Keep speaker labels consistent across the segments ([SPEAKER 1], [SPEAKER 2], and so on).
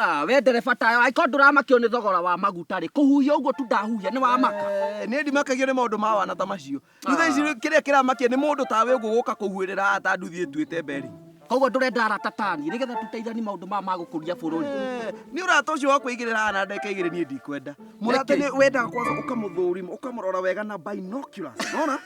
[SPEAKER 1] Ah,
[SPEAKER 2] we ndereba tayo angĩkorwo ndũramakio nĩ thogora wa maguta rĩ kũhuhia ũguo tu ndahuhia nĩ wamaka Eh, nĩ ndimakagio nĩ maũndũ
[SPEAKER 1] ma wana ta macio rĩu thaa ici kĩrĩa kĩramakia nĩ mũndũ tawe ũguo gũka kũhuĩrĩra ata nduthi ĩtuĩte mberi koguo ndũrenda arata
[SPEAKER 2] tani nĩgetha tũteithani maũndũ maya ma gũkũria bũrũri Eh, nĩ ũrata
[SPEAKER 1] ũcio wa kwĩigĩrĩra haha na ndeka igĩrĩ niĩ ndikwenda mũrata Nĩkĩ? nĩ wendaga kwanza ũkamũthũrima ũkamũrora wega na binoculars nona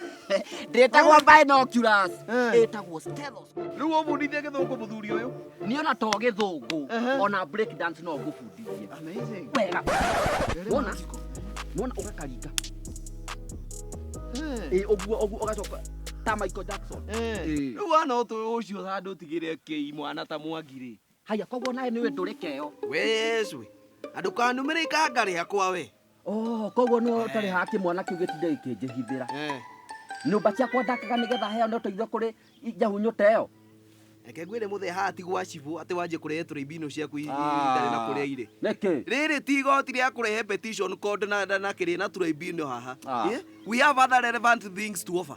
[SPEAKER 1] ndĩtagwo
[SPEAKER 2] binoculars Eh. ĩtagwo stethoscope rĩu ũbundithie gĩthũngũ
[SPEAKER 1] mũthuri ũyũ niä ona to gä thå
[SPEAKER 2] ngå Ehe. ona break dance no ngũbundithie Amazing. wega
[SPEAKER 1] Very
[SPEAKER 2] Wona? magical. mona å gakaringa Eh, ä å guo å guo å gacoka ta michael jackson eh. Eh. Rĩu wana
[SPEAKER 1] ũtũ ũcio handũ ũtigĩre kĩi mwana ta mwangi rĩ haya koguo nawe nä
[SPEAKER 2] we ndå rä keo Wee cwe.
[SPEAKER 1] Andũ kanumĩrĩka ngarĩa kwa we. Oh, koguo nä
[SPEAKER 2] ũtarä haga kä mwana kä u gä tinde gä kä njähithä ra Eh, nyå mba ciakwa ndakaga nä getha heo nä å teithio kå rä njahunyå ta ä yo reke ngwĩre
[SPEAKER 1] mũthee haha ti gwa cibũ atĩ wanjie kũrehe tũrĩmbino ciaku i- i- itarĩ na kũrĩa irĩ nä kä rĩrĩ ti igoti rĩa kũrehe petition code na na- na kĩrĩ na tũrĩmbino haha Ah. Eh, we have other relevant things to offer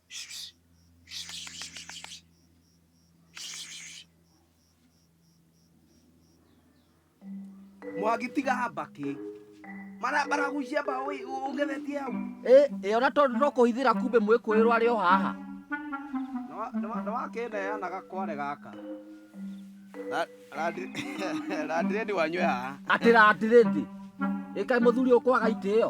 [SPEAKER 1] mwangi tiga mbakĩ Mara- maragucia mbaũ ĩ- ũgethetie hau ĩ ĩ, ona tondũ no kũhithĩra
[SPEAKER 2] kumbe mwĩkũĩrwo arĩ o haha Na wa-
[SPEAKER 1] na wa- na wakĩneanaga kware gaka Na- randi- randiredi wanywe haha atĩra atĩrĩndĩ
[SPEAKER 2] ĩkaĩ mũthuri ũkwaga itĩo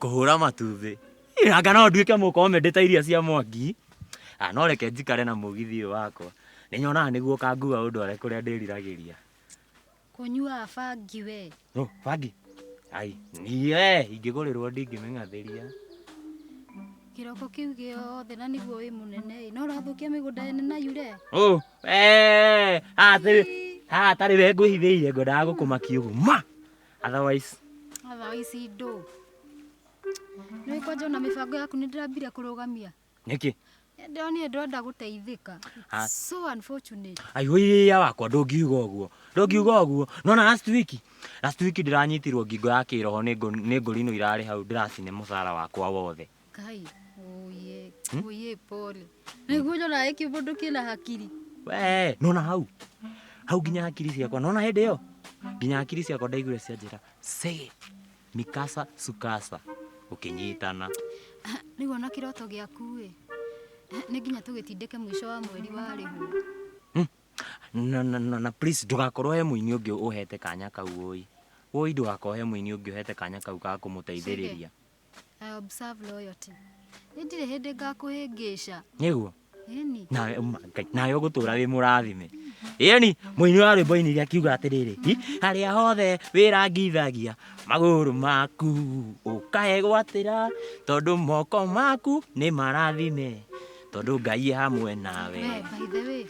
[SPEAKER 3] kũhũra matumbĩ anga no nduĩke mũkomendĩ ta iria cia mwangi Ah, no reke njikare na mũgithi ũyũ wakwa nĩ nyonaga nĩguo ũkangua ũndware kũrĩa ndĩriragĩria kũnyuaga
[SPEAKER 4] bangi we no bangi
[SPEAKER 3] ai niĩ ingĩgũrĩrwo ndingĩmĩng'athĩria
[SPEAKER 4] kĩroko kĩu gĩothe na nĩguo wĩ mũnene ĩ, no ũrathũkia mĩgũnda ene na yure Oh, eh,
[SPEAKER 3] haha hatarĩ we ngwĩhithĩire ngwendaga gũkũmakia ũguo ma Otherwise, Atha ici
[SPEAKER 4] ndũ. Nĩ kwanja ona mĩbango yaku nĩ ndĩrambire kũrũgamia. nĩkĩ?
[SPEAKER 3] Ndĩronire ndwenda
[SPEAKER 4] gũteithĩka. Ah. So unfortunate. Aihũiria wakwa
[SPEAKER 3] ndũngiuga ũguo. Ndũngiuga ũguo. Nona last week, last week ndĩranyitirwo ngingo ya kĩroho nĩ ngũ- nĩ ngũrino irarĩ hau ndĩracine mũcara wakwa wothe. Kai,
[SPEAKER 4] oye, oye, pole. Naigua ũrĩa ũraĩ kĩbũndũ kĩna hakiri. we nona
[SPEAKER 3] hau hau nginya hakiri ciakwa nona hĩndĩ ĩyo nginya hakiri ciakwa ndaigure cianjĩra se mikasa sukasa ũkĩnyitana Ah, Rĩu
[SPEAKER 4] ona kĩroto gĩaku-ĩ. Ah, Nĩ nginya tũgĩtindĩke mũico wa mweri wa rĩhu. na, na,
[SPEAKER 3] na, na please ndũgakorwo he mũini ũngĩ ũhete kanya kau ũi ũi ndũgakorwo he mũini ũngĩ ũhete kanya kau ga kũmũteithĩrĩria I
[SPEAKER 4] observe loyalty. Nĩ ndirĩ hĩndĩ
[SPEAKER 3] ngakũhĩngĩca. nĩguo Ĩni.
[SPEAKER 4] nawe uma
[SPEAKER 3] ngai nawe ũgũtũra
[SPEAKER 4] wĩ
[SPEAKER 3] mũrathime ĩni mũini wa rwĩmbo inire akiuga atĩrĩrĩ "Hi, harĩa hothe wĩrangithagia magũrũ maku ũkahe gwatĩra tondũ moko maku nĩ marathime tondũ ngai e hamwe nawe We, by the way,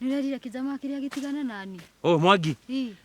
[SPEAKER 4] nĩ ũrerire kĩjama kĩrĩa gĩtigane nani? ũũ mwangi Ii.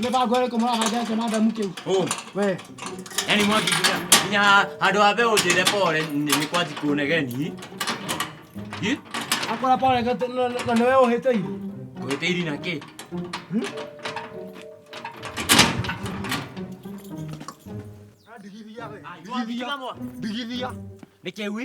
[SPEAKER 5] Nĩ ba gwere kũmũra baja cio madamu kĩu. Oh, We. yani mwangi
[SPEAKER 3] nginya nginya handũ ha mbe ũnjĩre pore nĩ nĩ kwanji kuonegeni. Hi?
[SPEAKER 5] Akora pole gete na na nĩ we ũhĩte iru. Ũhĩte iri na kĩ? Ndigithia we. Ndigithia.
[SPEAKER 3] Ndigithia.
[SPEAKER 5] Nĩ kĩwi?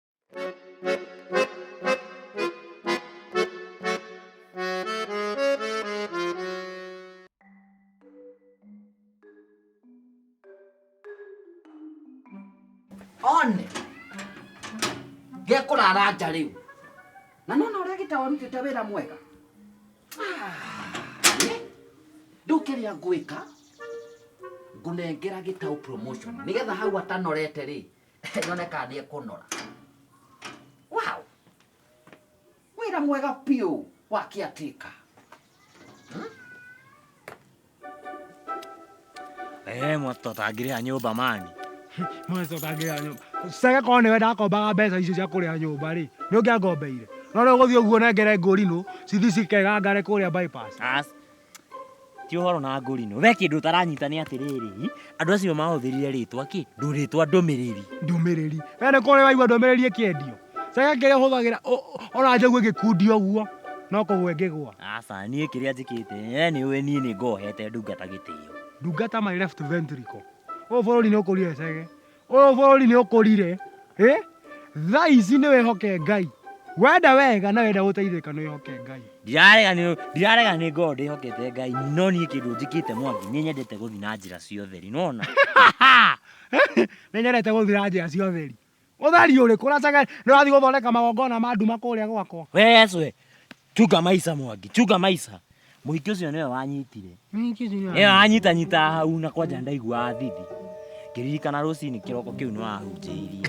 [SPEAKER 2] one gekũrara nja rĩu na nona ũrĩa gĩtawa rutĩte wĩra mwega ndũkĩrĩa ngwĩka ngũnengera gĩtaũ promotion nĩgetha hau atanorete rĩ Nyone kana nĩ ekũnora. Wow! Wĩra mwega biũ wa kĩatĩka.
[SPEAKER 3] Eh, mwatotangire a nyumba mani. Mwacokagĩra
[SPEAKER 5] nyũmba. Cege korwo nĩwe ndakombaga mbeca icio cia kũrĩha nyũmba rĩ, nĩ ũngĩangombeire. No rĩu ũgũthiĩ ũguo nengere ngũrinũ, cithi cikegangare kũrĩa bypass. As
[SPEAKER 3] ti ũhoro na ngũrino we kĩndũ ũtaranyita nĩ atĩrĩrĩ andũ acio mahũthĩrire rĩtwa kĩ ndũ rĩtwa ndũmĩrĩri ndũmĩrĩri we
[SPEAKER 5] nĩ kũrĩ waigua ndũmĩrĩri ĩkĩendio caka kĩrĩa ũhũthagĩra ona njogu ĩgĩkundio ũguo no kũgwa ĩngĩgwa aca niĩ kĩrĩa
[SPEAKER 3] njĩkĩte we nĩ ũĩ niĩ nĩ ngohete ndungata gĩtĩo ndungata my left
[SPEAKER 5] ventricle ũyũ bũrũri nĩ ũkũrio ecege Ũyũ bũrũri nĩ ũkũrire. Ĩ? Thaa ici nĩ wĩhoke Ngai. Wenda wega na wenda gũteithĩka nĩ wĩhoke Ngai. Ndirarega nĩ ndirarega
[SPEAKER 3] nĩ ngorwo ndĩhokete Ngai no niĩ kĩndũ njĩkĩte Mwangi nĩ nyendete gũthiĩ na njĩra cia ũtheri nĩwona
[SPEAKER 5] Nĩ nyendete gũthiĩ na njĩra cia ũtheri. Ũtheri ũrĩkũ? Ũracaga nĩ ũrathiĩ gũthondeka magongona ma nduma kũrĩa gwakwa. we Yesu we
[SPEAKER 3] Chuka Maisa Mwangi, Chuka Maisa. Mũhiki ũcio nĩwe wanyitire. Mũhiki ũcio nĩwe wanyitire. anyita nyita hau na kwanja ndaigua athithi. Ngĩririkana rũcinĩ kĩroko kĩu nĩ wahunjĩirie.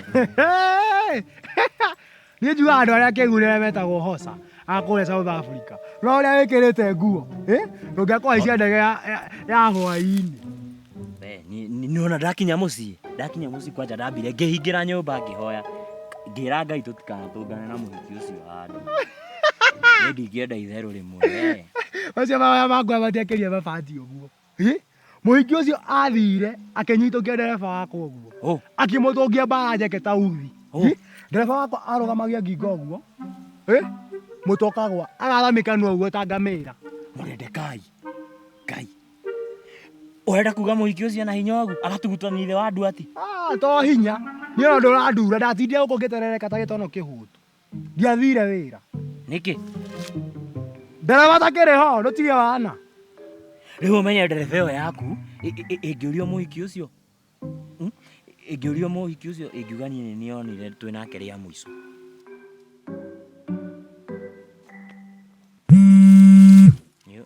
[SPEAKER 5] Niĩ njuga andũ arĩa kĩgurĩre metagwo Hosa a kũrĩa South Africa. No ũrĩa wĩkĩrĩte nguo, ĩ? Ndũngĩakũhaicia ndege ya ya hwaĩ-inĩ. we ni-
[SPEAKER 3] ni- nĩwona ndakinya mũciĩ ndakinya mũciĩ kwanja ndambire ngĩhingĩra nyũmba ngĩhoya ngĩra ngai tũtikanatũngane na mũhiki ũcio handũ Niĩ ndingĩenda itherũ rĩmwe we. Macio mahoya
[SPEAKER 5] makwa matiakĩria mabati ũguo. Ĩ? Mũhiki ũcio athire akĩnyitũkia ndereba wakwa ũguo. Ũ, Akĩmũtũngia mbara njeke ta uthi. Ũ. Ĩ? Ndereba wakwa arũgamagia ngingo ũguo. Ĩ? Mũtokagwa agathamĩkanua ũguo ta ngamĩra. mũrendekai
[SPEAKER 3] ngai Ũrenda kuga mũhiki ũcio na hinya wagu agatugutwo nĩ ithe wa andũ ati? Ah, to hinya
[SPEAKER 5] nĩ ona ũndũ ũrandura ndatindire gũkũ ngĩterereka ta gĩtono kĩhũtu ndiathire wĩra Nĩkĩ? ndereba takĩrĩ ho ndũtige wana Rĩu
[SPEAKER 3] ũmenye ndereba ĩyo yaku ĩ- ĩ- ĩ- ĩngĩũrio mũhiki ũcio mm, ĩngĩũrio mũhiki ũcio ĩngiuga niĩ nĩ nĩonire twĩ nake rĩa mũico. Nĩ-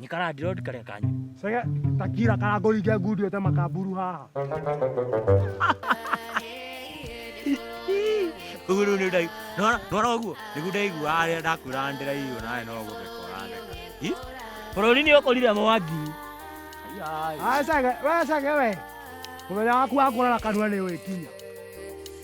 [SPEAKER 5] Nĩ karandiro karĩa
[SPEAKER 3] kanyu. Sege takira
[SPEAKER 5] karango inge ngundi ete makamburu haha.
[SPEAKER 3] Ũguo rĩu nĩ ndai. Nora nora ũguo. Nĩguo ndaigua arĩa ndakwĩra ndĩra iyo nawe no gũtheka ũratheka. Hi? Bũrũri nĩ ũkũrire mwangi. Ai. Ai sege we
[SPEAKER 5] sege we. Mũthenya waku wa kũrara kanua nĩ wĩkinya.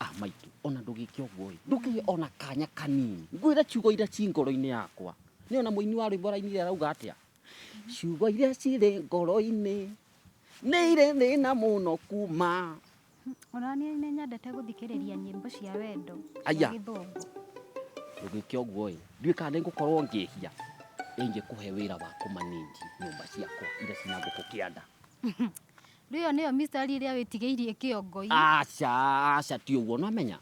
[SPEAKER 4] Ah, maitũ, ona
[SPEAKER 2] ndũgĩke ũguo-ĩ, ndũkĩgĩe ona kanya kanini. Ngwĩre ciugo iria ci ngoro-inĩ yakwa. Nĩ ona mũini wa rwĩmbo arainire arauga atĩa? Ciugo iria cirĩ ngoro-inĩ nĩ irĩ thĩna mũno kuma. Ona niĩ
[SPEAKER 4] nĩ nyendete gũthikĩrĩria nyĩmbo cia wendo cia Aya.
[SPEAKER 2] gĩthũngũ. Ndũgĩke ũguo-ĩ, ndiũĩ kana nĩngũkorwo ngĩhia ĩngĩkũhe wĩra wa kũmanĩnji nyũmba ciakwa iria cina ngũkũ kĩanda.
[SPEAKER 4] Rĩo nĩyo mistari ĩrĩa wĩtigĩirie kĩongo-inĩ. aca aca
[SPEAKER 2] ti ũguo nĩwamenya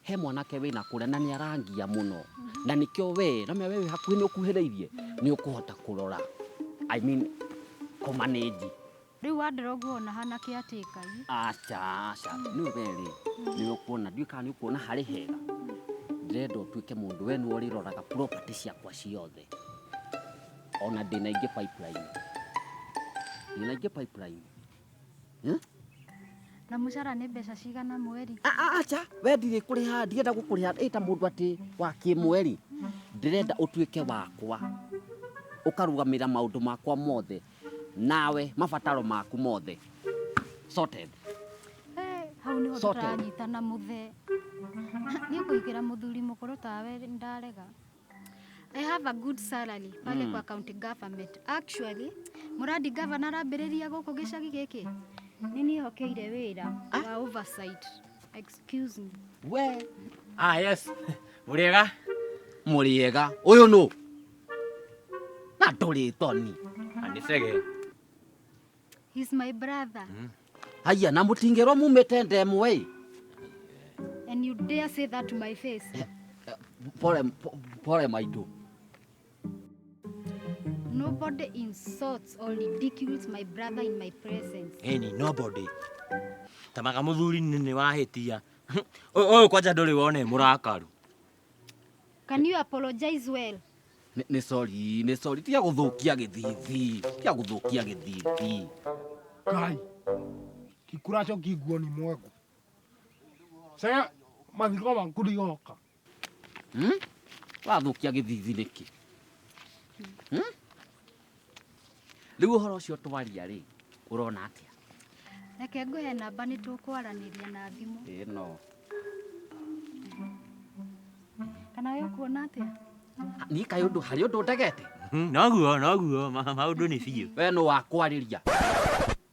[SPEAKER 2] he mwanake wĩna kũrĩa na nĩarangia mũno na nĩkĩo we nĩwamenya we wĩ hakuhĩ nĩũkuhĩrĩirie nĩũkũhota kũrora I mean kũmanĩnji Rĩu wandora
[SPEAKER 4] ũguo ona hana kĩ atĩ Ngai. aca aca
[SPEAKER 2] nĩ werĩ nĩũkuona ndiũĩ kana nĩũkuona harĩ hega ndĩrenda ũtuĩke mũndũ we nĩwe ũrĩroraga property ciakwa ciothe ona ndĩna ingĩ pipeline ndĩna ingĩ pipeline Eh?
[SPEAKER 4] Na mũcara nĩ mbeca cigana mweri? A- a- acha we
[SPEAKER 2] ndirĩ kũrĩha ndirenda gũkũrĩha ĩ ta mũndũ atĩ wa kĩmweri ndĩrenda ũtuĩke wakwa ũkarũgamĩrĩra maũndũ makwa mothe nawe mabataro maku mothe sorted Eh,
[SPEAKER 4] hau nĩho Sorted. tũranyitana mũthee. Niĩ kũigĩra mũthuri mũkũrũ tawe ndarega. I have a good salary pale kwa county government. Actually, muradi governor arambĩrĩria gũkũ gĩcagi gĩkĩ nĩ niĩ hokeire wĩra wa oversight. Excuse me. we
[SPEAKER 2] ah yes
[SPEAKER 3] muriega muriega
[SPEAKER 2] uyu nu na nduri toni anisege
[SPEAKER 4] He's my brother. Aya, na
[SPEAKER 2] mũtingĩrwo mumĩte ndemwa ĩ.
[SPEAKER 4] And you dare say that to my face? Pole, po-
[SPEAKER 2] pole maitũ.
[SPEAKER 4] Nobody insults or ridicules my brother in my presence. Any nobody.
[SPEAKER 3] Tamaga muthuri nĩ wahĩtia. Ũyũ kwanja ndũrĩ wone mũrakaru.
[SPEAKER 4] Can you apologize well? Nĩ- nĩ sorry
[SPEAKER 2] nĩ sorry tiga gũthũkia gĩthithi tiga gũthũkia gĩthithi Kai.
[SPEAKER 5] Kikuracho kiguoni mwangu. Sasa mathiko maku ndigoka. Hmm?
[SPEAKER 2] wathũkia gĩthithi nĩkĩ Hmm? Rĩu ũhoro ũcio twaria rĩ, ũrona atĩa? Reke ngũhe
[SPEAKER 4] namba nĩ tũkwaranĩria na thimũ. Ĩno. Kana we ũkuona atĩa? Niĩ kaĩ
[SPEAKER 2] ũndũ harĩ ũndũ ndegete? Hmm, noguo, noguo,
[SPEAKER 3] maũndũ nĩ biũ. We nũ wakwarĩria?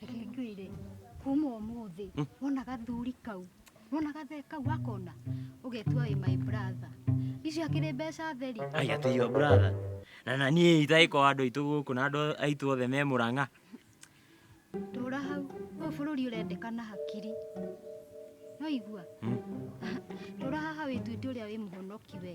[SPEAKER 4] Reke ngwĩre kuma ũmũthĩ wona gathuri kau wona gathe kau akona ũgetua wĩ my brother icio akĩrĩ mbeca theri ai atĩ your brother
[SPEAKER 3] na na niĩ itaĩ kwa andũ aitũ gũkũ na andũ aitũ othe me mũrang'a
[SPEAKER 4] tũra hau ũyũ bũrũri ũrendekana hakiri no igua tũra haha wĩtuĩte ũrĩa wĩ mũhonoki we